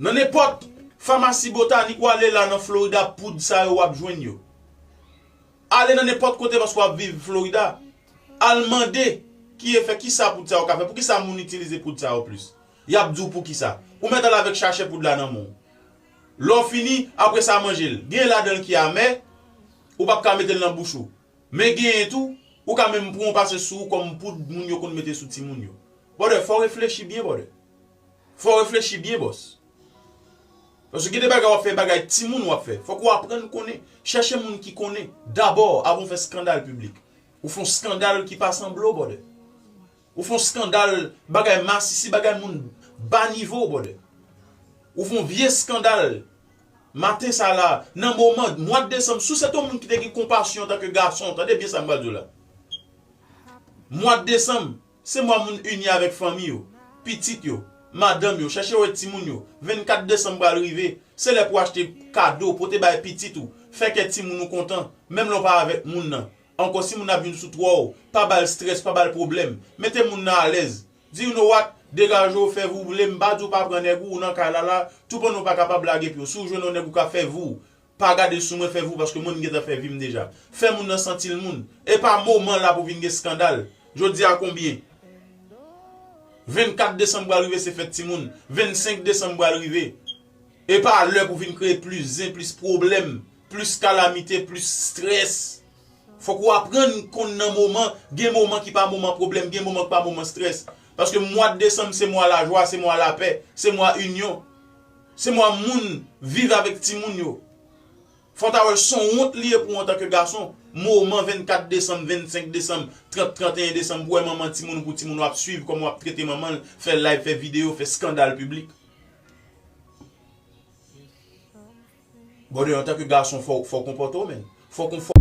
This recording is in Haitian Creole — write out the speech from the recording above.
Nan nenpòt famasi botanik ou ale la nan Florida poud sa yo wap jwenn yo. Ale nan nenpòt kote paske wap viv Florida, al mande ki efè, kisa poud sa yo ka fè, poukisa moun itilize poud sa yo plis. Yap di w poukisa. Ou mèt al avèk chachè poud la nan men w. Lè w fini, apre sa manje l. Genyen ladan l ki amè, ou pap ka mete l nan bouch ou. Men genyen tou, ou ka menm pran w pase sou ou kòm poud moun yo konn mete sou timoun yo. Brother, fò w reflechi byen brother. Fòw reflechi byen bòs. Paske gen de bagay wap fè bagay timoun wap fè. Fòk ou aprann konnen. Chèche moun ki konnen dabò avan ou fè skandal piblik. Ou fon skandal ki pa sanble w brother. Ou fon skandal bagay masisi bagay moun ba nivo w brother. Ou fon vye skandal maten sa la nan moman mwad desanm si w se te yon moun ki te gen konpasyon antanke gason tande byen sa m pral di w la. Mwad desanm Se mwa moun ini avèk fanmi yo, pitit yo, madanm yo, chèche wè timoun yo, 24 desanm pral rive, se lè pou achte kado, pote bay pitit ou, fè kè timoun ou kontan, menm lè w pa avèk moun nan, ankò si moun nan ap vin sou twò w, pa ba l strès, pa ba l pwoblèm, mete moun nan alèz, di you know what, degaje w, fè vou vle, m pa di w pa pran nèg ou, ou nan kay la la, toupann ou pa kapab lage pye w, si w jwenn yon nèg ou ka fè vou w, Pa gade sou mwen fè vou paske mwen m gentan fè vim deja. Fè moun nan santi l moun. Epa moman la pou vin gen skandal. Jodi a konbyen? 24 desanm pral rive se fèt timoun. 25 desanm pral rive. Epa lè pou vin kreye plis zen, plis pwoblèm, plis kalamite, plis strès. Fòk ou aprann konn nan moman, gen moman ki pa moman pwoblèm, gen moman ki pa moman strès. Paske mwa desanm se mwa lajwa, se mwa lapè, se mwa inyon. Se mwa moun viv avèk timoun yo. Fò w ta wè son wont li ye pou w antanke gason, moman 24 desanm, 25 desanm, 30, 31 desanm pou wè manman timoun ou pou timoun ou ap swiv kòman w ap trete manman l, fè live, fè videyo, fè skandal piblik. Brother antanke gason fò w konpòte w menn. Fò w.